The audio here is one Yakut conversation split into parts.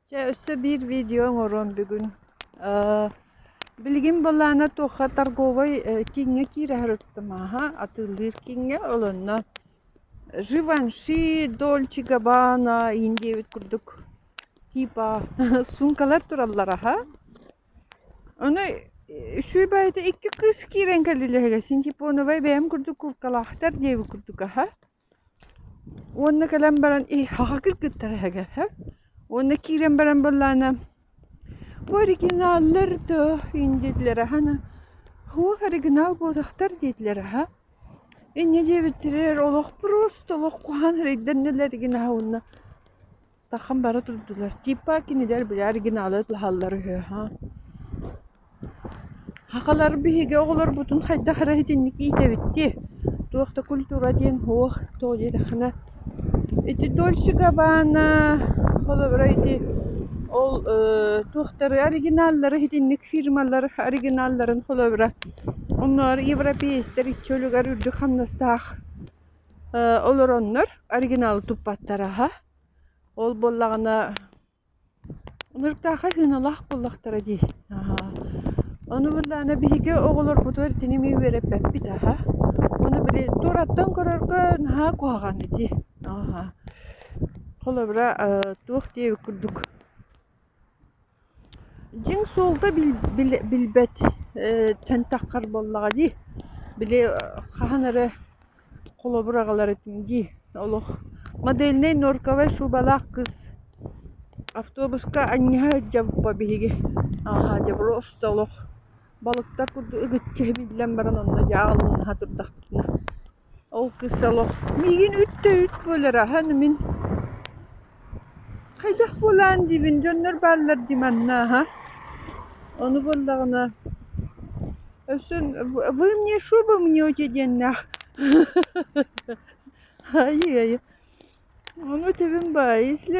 Чэ, өссө биир видео оҥоруом бүгүн. Э, билигин былаана туохха торговой э, кииҥҥэ киирээри ыктымааһа, атыылыыр кииҥҥэ, олонно Живанши, Дольче Габбана, иин диэбит курдук типа суумкалар тураллар аха. Ону үсүү бэйэтэ икки кыыс киирэн кэллилэһигэ син типоновай бэйэм курдук куркалаахтар диэбит курдук аха. Уонна кэлэн баран иһахха кыргыттар эһэгэ һэ уонна киирэн баран буоллаана оригиналлар доо диэтилэр аһана уох оригинал буолуохтар диэтилэр аһа инньэ диэбиттэригэр олох просто олох куһаҕан эрэйдэннилэр оригинаһа уонна Таххан бара турдулар Типа кинилэр били оригиналы ыллаһаллар үһү ха Хахалар биһиги оҕолорбутун хайдах эрэ итинник иитэбиттии туох да культура диэн суох тоҕо диэтэххинэ ити Дольче Габбана холобура ити ол ээ туохтары оригиналлары итинник фирмалар оригиналларын холобура оннугар европеецтэр иччи өлүгэр үрдүк хамнастаах э олороннор оригиналы туппаттара ха Ол буоллаҕына ырыктаахха сыаналаах буоллахтара дии. Аһаа, ону быһылаана биһиги оҕолорбутугар итини эмиэ үөрэппэппит аһа. Ону били туораттан көрөргө наһаа куһаҕан этии. Аһаа, холобура, э, туох диэбит курдук Дьиҥ суолта билбэт тэнтэххэр буоллаҕа дии, били хаһан эрэ холобур аҕаларытыҥ дии олох модельнай норковай шубалаах кыс автобуска анньыһа сылдьабыппа биһиги ааһа дьобуруоста олох балыктар курдук ыгыччы биллэн баран онно дьааҕылыҥнаһа турдахпытына Ол кыыс олох миигин үтта-үт буолар аһан мин хайдах буолаан диибин дьоннор бааллар дии манна аһа ону буоллаҕына өссө вы мне шубу мнете диэннээх айыы-айыы ону тэбим баай если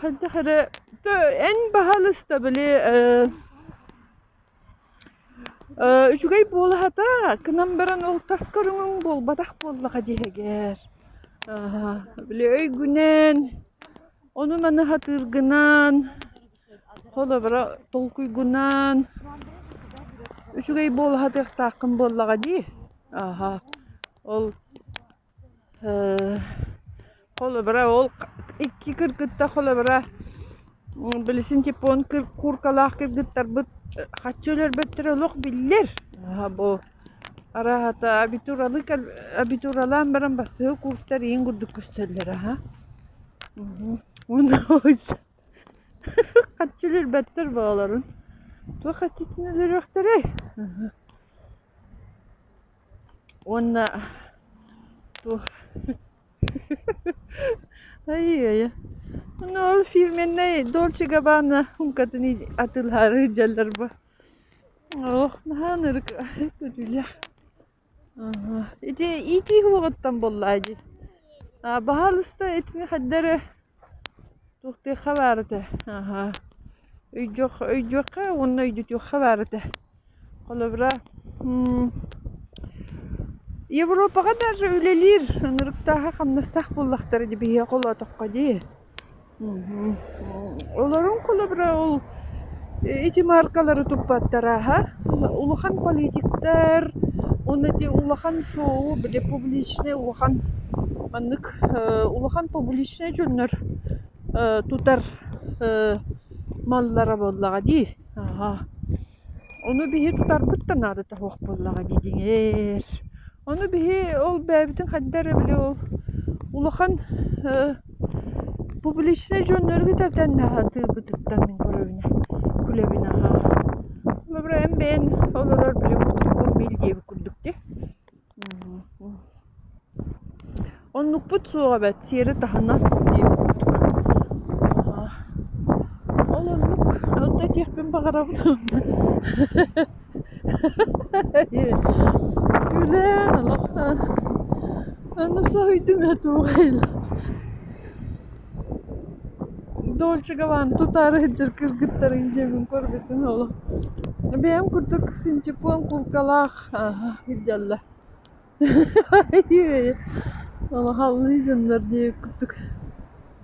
Хайдах эрэ эн баһаалыста били үчүгэй буолаһата гынан баран ол тас көрүҥүҥ буолбатах буоллаҕа диэһэгэр били өйгүнэн ону-маны сатыыргынан холобура толкуйгунан үчүгэй буолаһатыахтааххын буоллаҕа дии. Ол Э, холобура ол икки кыргыттар холобура билисин типун куркалаах кыргыттарбыт хаччы өлөрбөттөрө олох биллэр бу араһата абитуралы абитуралаан баран бассыһы курстар иин курдук көстөллөр аха хаччы өлөрбөттөр боолорун туох хаччытын өлөрүөхтэрэй Уонна ту Ай-яй-яй Ну ол фирменнэй Dolce Gabbana сумкатын атылаары дьаллар бу Ох, наһаа ынырык көтүүлээх Аха Ити итии уоҕуттан буоллаа дии Баһаалыста итини хаддары Туохтыахха баар этэ, аһа, өйдүөх, өйдүөххэ уонна өйдөтүөххэ баар этэ. Холобура, Европаҕа даже үлэлиир ынырыктааһа хамнастаах буоллахтара дии биһиэхэ олоотоххо дии. Олорун холобура ол Ити мааркалары туппаттара аһа улахан политиктар уонна ити улахан шоу били публичнай улахан маннык улахан публичнай дьоннор тутар маллара буоллаҕа дии аһа ону биһи тутарбыт да наадата суох буоллаҕа дии дьиҥэр ону биһи ол бэйэбитин хайдах эрэ били ол улахан Публичнай дьоннору кытары сатыырбытыттан мин көрөбүнэ күлэбин аһаа Добро эн бэйэн олорор били уустуккун биил диэбит курдук дии Оннукпут суох эбээт сиэри таһына диэбит курдук Ол оннук онно этиэхпин баҕарабын Үлээн олох аны соһуйдум ээ тугайла Дольчикованы тутаары сылдьар кыргыттары идэмин көрбүтүм олох бэйэм курдук синтепон кулкалаах ирдэллэ олох аллыы дьоннор диэки курдук